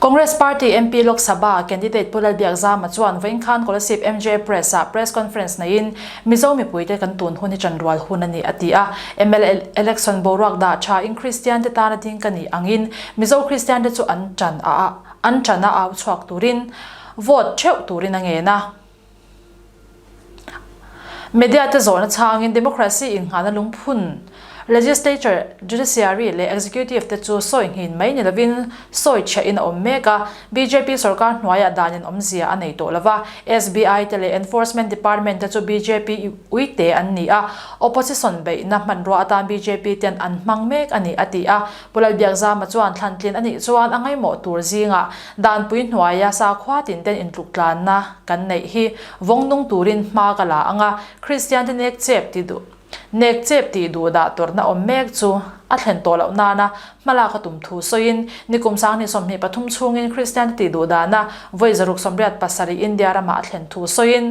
Congress Party MP Lok Sabha candidate Pu Lalbiak Zama chuan Vawinkhân Kolasib MJ Press-ah press conference neihin Mizo mipuite kan tun hun hi chanrual hun a ni a ti a. Mla election boruak dah thain Kristiante tana ding ka nih angin Mizo Kristiante chu an ṭan a a, an ṭan a au chhuak turin vote ṭheuh turin a ngen a. Media te zawhna chhangin Democracy innghnahna lungphun Legislature, Judiciary leh Executive te chu sawi nghin mai ni lovin sawi thiahin a awm mek a. Bjp sorkar hnuaiah danin awmzia a nei tawh lova, SBI te leh Enforcement Department te chu bjp i uite an ni a, Opposition beihna hmanrua atan bjp ten an hmang mek a ni a ti a. Pu Lalbiakzama chuan thlantlen a nih chuan a ngaimawh tur zingah danpui hnuaia sakhua tinten intluktlanna kan neih hi vawng nung turin hma ka la ang a, Kristiante nek chep ti duh nek chep tih duh dah tawrhna awm mek chu a thlen tawh loh nana hma lak a tum thu sawiin ni kum sang ni sawmhnih pathum chhungin Kristiante tih duh dahna vawi zaruk sawmriat pasarih India ramah a thlen thu sawiin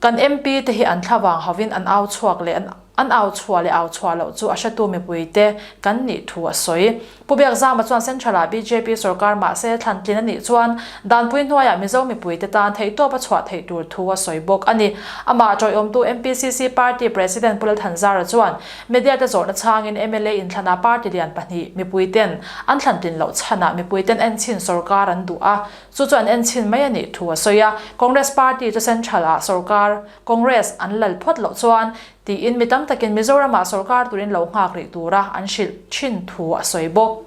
Kan MP te hi an thla vang hovin an au chhuak leh an au chhuah leh au chhuah loh chu a hratu mipui te kan nih thu a sawi. Pu Bek Zama chuan Central ah bjp sorkar mahse thlantlin a nih chuan danpui hnuaiah Mizo mipui te tan theihtawp a chhuah theih tur thu a sawi bawk a ni. Amah tawihawmtu MPCC party president Pu Lalthanzara chuan media te zawrhna chhangin mla in thlanah party lian pahnih mipui ten an thlantlin loh chhan ah mipui ten en chhin sorkar an duh a, Chu chuan en chhin mai a nih thu a sawi a. Congress Party chu Central ah sawrkar, Congress, an lal phawt loh chuan tiin mi tam takin Mizoram ah sawrkar turin lo nghak rih tura an hrilh thin thu a sawi bawk.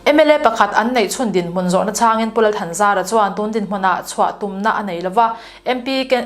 Mla pakhat an neih chhun dinhmun zawhna changin Pu Lalthanzara chuan tun dinhmun ah chhuah tumna a nei lova MP Ken.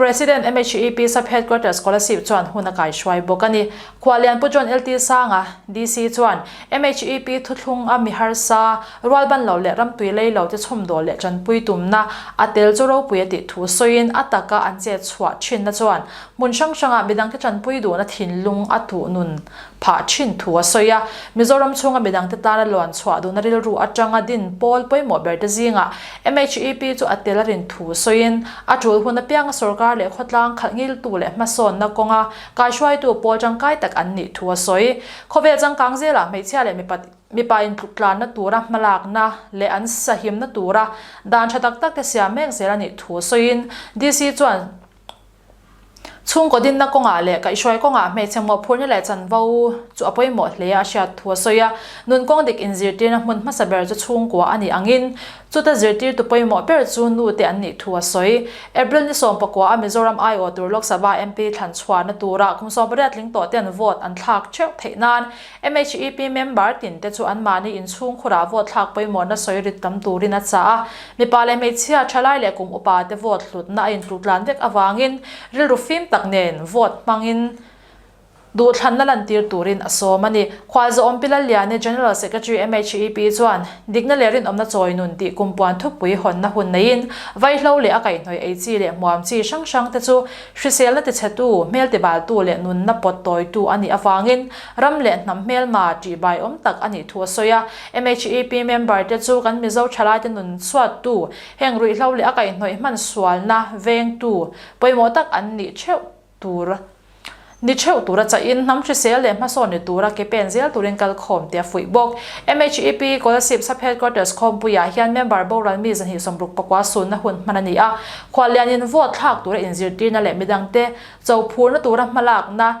President MHEP Sub Headquarter Scholarship chuan hun a kaihruai bawk a ni. Khualianpu John LT Sanga, DC, chuan MHEP thuthlung a mi harsa, rual ban lo leh ramtui lei lo te chhumdawh leh tanpui tumna a tel chu ropui a tih thu sawiin a taka an chet chhuah thinna chuan hmun hrang hranga midangte tanpui duhna thinlung a tuhnun phah thin thu a sawi a. Mizoram chhunga midang te tlan a luan chhuah duhna rilru atanga din pawl pawimawh ber te zingah MEP chu a tel a rin thu sawiin a tul hun apianga sorkar leh khawtlang khalh ngiltu leh hmasawnna kawnga kaihruaitu pawl tangkai tak an nih thu a sawi. Khawvel changkang zelah hmeichhia leh mipa mipa intluttlanna tura hmalakna leh an sahimna tura dan tha tak tak te siam mek zel a nih thu sawiin DC chuan, Chhungkaw dinna kawngah leh kaihhruai kawngah hmeichhe mawhphurhna leh chanvo chu a pawimawh hle a, a hriat thu a sawi a. Nun kawng dik inzirtirna hmun hmasa ber chu chhungkua a nih angin, chuta zirtirtu pawimawh ber chu nu te an nih thu a sawi. April ni sawm pakua a Mizoram aiawh tur Lok Sabha MP thlan chhuahna tura kum sawmpariat tling tawhte an vote an thlak theuh theih nan, MHEP member tin te chu an mahni inchhungkhurah vote thlak pawimawhna sawi rit tam turin a chah a. Mipa leh hmeichhia, thalai leh kum upa te vote hlutna a intutlan vek avangin rilru fim tak nen vote hmangin duhthlanna lantir turin a sawm a ni. Khualzawhawm Pilalliani, General Secretary MHEP chuan dikna leh rinawmna chawi nun tih kum puan thupui hawnna hun neiin vaihlo leh a kaihhnawih ei chi leh hmuam chi hrang hrang te chu hriselna tichhetu, hmeltibaltu leh nunna pawt tawitu a nih avangin Ram leh hnam hmelma tihbai awm tak a nih thu a sawi a. MHEP member te chu kan Mizo thalaite nun chhuattu, heng ruihhlo leh a kaihnawih hman sualna vengtu pawimawh tak an ni theuh tur ni theuh tura chahin hnam hrisel leh hmasaw ni tura ke pen zel turin kal khawm tih a fuih bawk. MHEP Kolasib Sub Headquarters Khawmpuiah hian member boral mi zahnih sawmruk pakua sunna hun hman a ni a. Khuallianin vote thlak tura inzirtirna leh midangte chophurna tura hmalakna,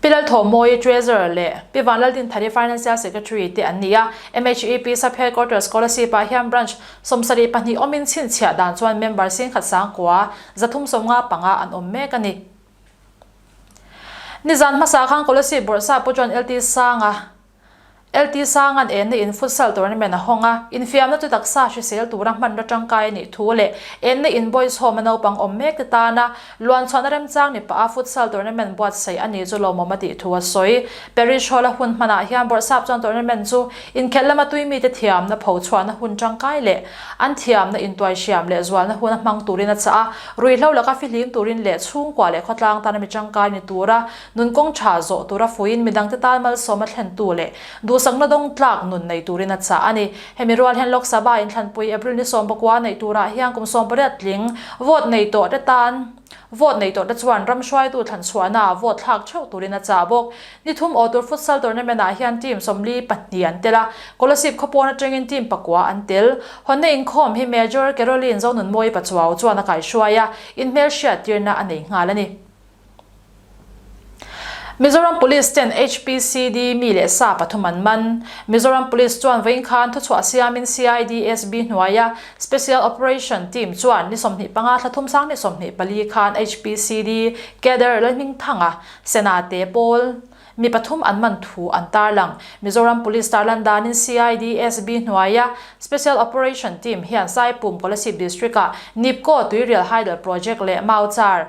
Pi Lalthawmawii, Treasurer, leh Pi Vanlaltinphari, Financial Secretary, te an ni a, MHEP Sub-Headquarter Scholarship-ah hian branch sawmsarih pahnih awmin chhinchhiah dan chuan member sin khat sangkua zathum sawm nga panga an awm mek a ni. Nizan hmasa khan Scholarship bawrhsah pawh chuan LT Sanga, LT Sanga'n enna in Futsal Tournament a hawng a, infiamna chu taksa hrisel tura hmanraw tangkai a nih thu leh enna in Boys Home-a naupang awm mek te tana luanchhuahna remchang ni paha Futsal Tournament buatsaih a ni chu lawmawm a tih thu a sawi. Parish Hall-a hun hmanah hian Bawrhsap chuan Tournament chu inkhelh lama tui mite thiamna pho chhuahna hun tangkai leh an thiamna intuai hriam leh zualna huna hmang turin a chah a, ruihhlo laka fihlim turin leh chhungkua leh khawtlang tana mi tangkai ni tura Nun kawng tha zawh tura fuiin midangte tal malsawm a thlentu leh duhsakna dawng tlak nun nei turin a chah a ni. Hemi rual hian Lok Sabha inthlanpui April ni sawm pakua neih turah hian kum sawm pariat tling vote nei tawhte tan vote nei tawhte chuan ram hruaitu thlanchhuahna ah vote thlak theuh turin a chah bawk. Ni thum aw tur futsal tournament ah hian team sawmli pahnih an tel a, Colosip khawpawn atangin team pakua an tel. Hawnna inkhawm hi Major Caroline Zonunmawii Pachuau chuan a kaihruai a, inhmelhriat tirna a nei nghal a ni. Mizoram Police ten HPCD mi leh sa pathum an man. Mizoram Police chuan vawiin khan thuchhuah siamin CID SB hnuaia Special Operation Team chuan ni sawmhnih panga thla thum sang ni sawmhnih pali khan HPCD Cader Lalhming Thanga, Sena te pawl mi pathum an man thu an tarlang. Mizoram Police tarlan danin CID SB hnuaia Special Operation Team hian Saipum Kolasib District-a Nipkoh Tui Rial Haidal Project leh Mauchar,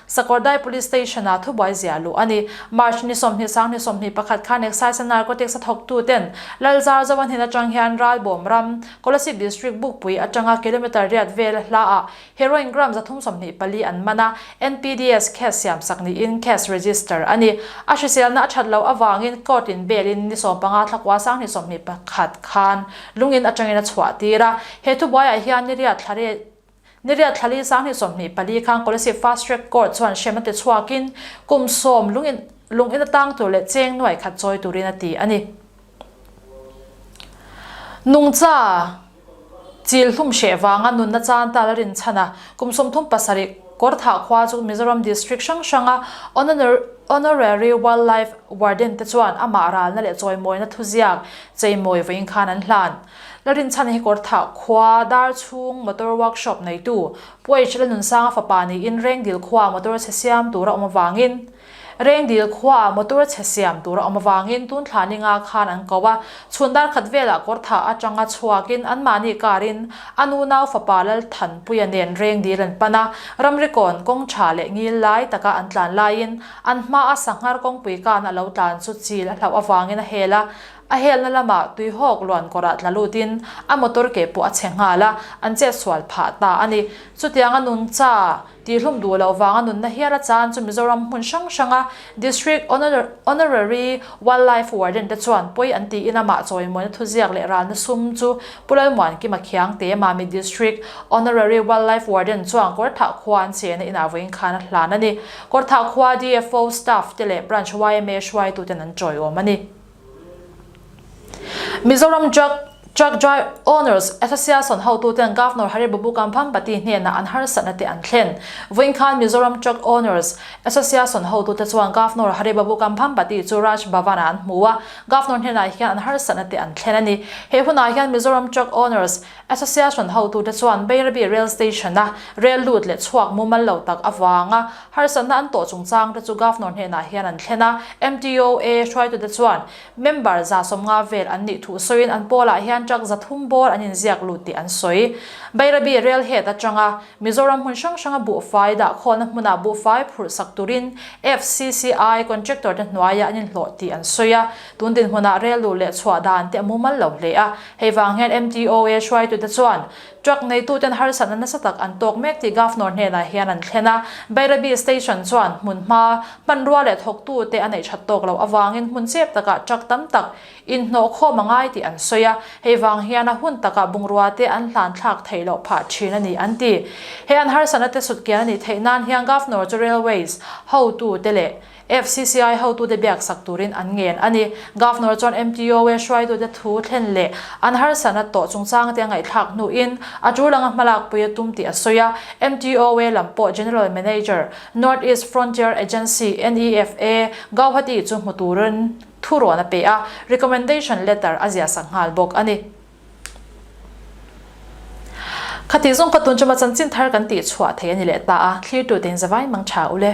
Sakawrdai Police Station-ah thubuai ziah luh a ni. March ni sawmhnih sang ni sawmhnih pakhat khan Excise a Narcotics a thawktuten Lalzar Zoan hnen atang hian Ralbawm ram, Kolasib District Bukpui atanga kilometre riat vel hla-ah Heroin gram zathum sawmhnih pali an man a, NPDS case siam sak niin case register a ni. A hriselna a that loh avangin Court-in bail-in ni sawm panga thlakual sang ni sawmhnih pakhat khan lungin atangin a chhuahtir a. He thubuaiah hian niriat thlare Niriat Thlali Sanghnih sawmhnih pali khan Kolasib Fast Track Court chuan hrem a ti chhuakin kum sawm lungin lungin a tang tur leh cheng nuai khat chawi turin a ti a ni. Nungcha chil hlum hreh vanga nunna chan tal a rinchhan a, kum sawm thum pasarih kawr thah khua chu Mizoram District hrang hranga Honorary Wildlife Warden te chuan amah ralna leh chawimawina thuziak cheimawi vawiin khan an hlan. Larinchhan Hekortha khua dar chhung motor workshop neitu Puaich Lanunsanga fapa niin Rengdil khuaa motor chhe siam tura awm avangin Rengdil khuaa motor chhe siam tura awm avangin Tunthla ninga khan an ko a, chhun dar khat velah Kawrtha atanga chhuakin anmahni karin a nu nau fapa Lalthanpuia nen Rengdil an pan a, ramrikawn kawng tha leh ngil lai taka an tlan laiin an hmaa sanghar kawngpui kana a lo tlan chu chil a hlauh avangin a hel a, A helna lamah tuihawk luankawrah tla lutin a motor ke pawh a chhe nghal a, an che sual phah ta a ni. Chutiang a nun cha tihhlum duh loh vang a nunna hial a chan chu Mizoram hmun hrang hranga District Honorary Wildlife Warden te chuan pawi an ti in amah chawimuana thuziak leh ralna sum chu Pu Lalmuan Kima Khiangte, Mami District Honorary Wildlife Warden chuan Kawrthah khua an chena inah vawi inkhan a hlan a ni. Kawrthah khua DFO staff te leh Branch YMA hruaituten an chawiawm a ni. Mizoram Truck Truck Owners Association hotu ten Governor Hari Babu Kambhampati hnenah an harsatna te an thlen. Vawinkhan Mizoram Truck Owners Association hotu te chuan Governor Hari Babu Kambhampati chu Raj Bhavan ah an hmu a, Governor hnenah hian an harsatna te an thlen a ni. He hunah hian Mizoram Truck Owners Association hotu te chuan Beirabi Rail Station a rail lut leh chhuak mumal lo tak avanga, Harsatna an tawh chungchangte chu Governor hnenah hian an thlen a, MTOA hruaitute chuan member za sawm nga vel an nih thuh sawiin an pawlah hian truck za thum bawr an inziak lut tih an sawi. Bairabi rel het atanga Mizoram hmun hrang hranga buhfai dah khawlna hmuna buhfai phurhsak turin FCCI contractor te hnuaia an inhlawh tih an sawi a, tun dinhmunah rel luh leh chhuah dan te a mumal lo hle a. Hei vang hian MTOA hruaitute chuan Truck neituten harsatna nasa tak an tawk mek tih Governor hnenah hian an thlen a. Bairabi Station chuan hmunhma, hmanrua leh thawktu te a neih that tawk loh avangin hmun chep takah truck tam tak inhnawh khawm a ngai tih an sawi a. Hei vang hian a hun takah bungrua te an hlanthlak theih loh phah thin a ni an ti. He an harsatna te sutkian a nih theih nan hian Governor chu Railways hotu te leh, FCCI hotute biak sak turin an ngen a ni. Governor chuan MTOA hruaitute thu thlen leh an harsatna tawh chungchang te a ngaihthlak hnuin a ṭu langa hmalakpui a tum tih a sawi a. MTOA lam pawh General Manager, North East Frontier Agency, NEFA, Gauhati chu hmu turin thu rawn a pe a, recommendation letter a ziahsak nghal bawk a ni. Khatih zawng ka tun chu ma chanchin thar kan tih chhuah thei a ni leh ta a, thlir tute in zavai mang tha u le.